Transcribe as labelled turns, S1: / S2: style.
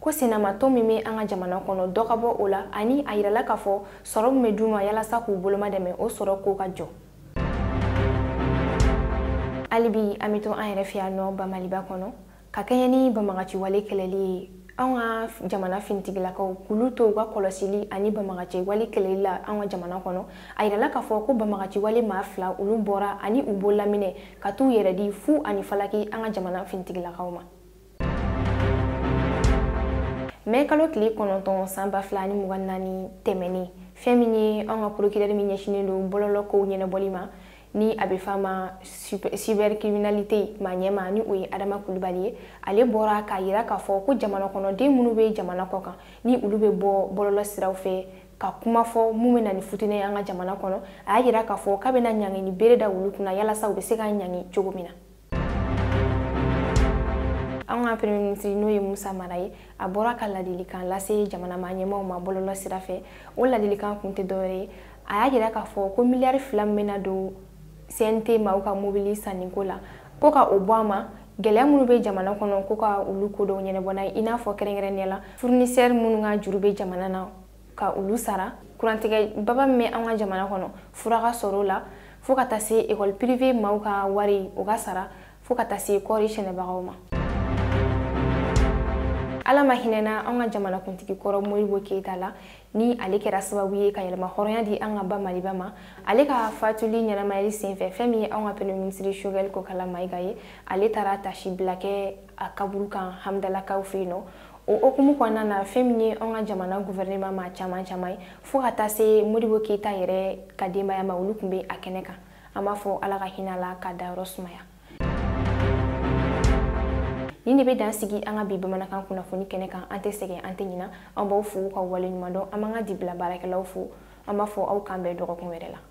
S1: ko sinamatɔn min bɛ an ka jamana kɔnɔ dɔ ka bɔ o la ani a yirala k'a fɔ sɔrɔ min bɛ d'u ma yalasa k'u bolomadɛmɛ o sɔrɔ ko ka jɔ halibi an bɛ to an yɛrɛ fɛ yan nɔ ba maliba kɔnɔ ka kɛɲɛ ni banbaganciwale kɛlɛli ye anw ka jamana finitigilakaw k'olu to u ka kɔlɔsili ani banbaganciwale kɛlɛli la anw ka jamana kɔnɔ a yirala k'a fɔ ko banbaganciwale maa fila olu bɔra ani u bolominɛn ka t'u yɛrɛ di fu ani falaki an ka jamana finitigilakaw ma mɛ kalo tile kɔnɔntɔn san ba fila ni mugan naani tɛmɛnen fɛn min ye an ka porokirɛri min ɲɛsinen don bɔlɔlɔ kow ɲɛnabɔli ma ni a bɛ f'a ma cybercriminalité maa ɲɛmaa ni o ye adama kulubali ye ale bɔra k'a yira k'a fɔ ko jamana kɔnɔden minnu bɛ jamana kɔ kan ni olu bɛ bɔ bɔlɔlɔ siraw fɛ ka kuma fɔ mun bɛ na ni fitinɛ ye an ka jamana kɔnɔ a y'a yira k'a fɔ k'a bɛna ɲangini bere da olu kunna yalasa u bɛ se ka ɲangi cogo min na an ka premier minisiri n'o ye musa mara ye a bɔra ka ladilikan lase jamana maa ɲɛmaaw ma bɔlɔlɔ sira fɛ o ladilikan kun tɛ dɔwɛrɛ ye a y'a jira k'a fɔ ko miliyari fila min bɛna don cnt maaw ka mobili sanniko la ko ka o bɔ a ma gɛlɛya minnu bɛ jamana kɔnɔ ko ka olu ko dɔw ɲɛnabɔ n'a ye i n'a fɔ kɛrɛnkɛrɛnnenya la fournisseur minnu ka juru bɛ jamana na ka olu sara kurantigɛ baba min bɛ an ka jamana kɔnɔ fura ka sɔrɔ o la fo ka taa se ekɔli pirive maaw ka wari o ka sara fo ka taa se kɔɔri sɛnɛbagaw ma ala ma hinɛna an ka jamanakuntigi kɔrɔ modibo keyita la ni ale kɛra sababu ye ka yɛrɛmahɔrɔnya di an ka ba maliba ma ale ka fatuli ɲɛnamayali senfɛ fɛn min ye anw ka premier minisiri shogɛl kokala mayiga ye ale taara taasibila kɛ a kaburu kan hamdalakaw fɛ yen nɔ o hukumu kɔnɔna na fɛn min ye an ka jamana guvɛrɛnema maa caman caman ye fo ka taa se modibo keyita yɛrɛ ka denbaya ma olu tun bɛ a kɛnɛ kan an b'a fɔ ala ka hinɛ a la k'a dayɔrɔ sumaya nin de bɛ dan sigi an ka bi bamanankan kunnafoni kɛnɛ kan an tɛ sɛgɛn an tɛ ɲina an b'aw fo ka waleɲumandɔn an b'an ka dibila baarakɛlaw fo an b'a fɔ aw k'an bɛn dɔgɔkun wɛrɛ la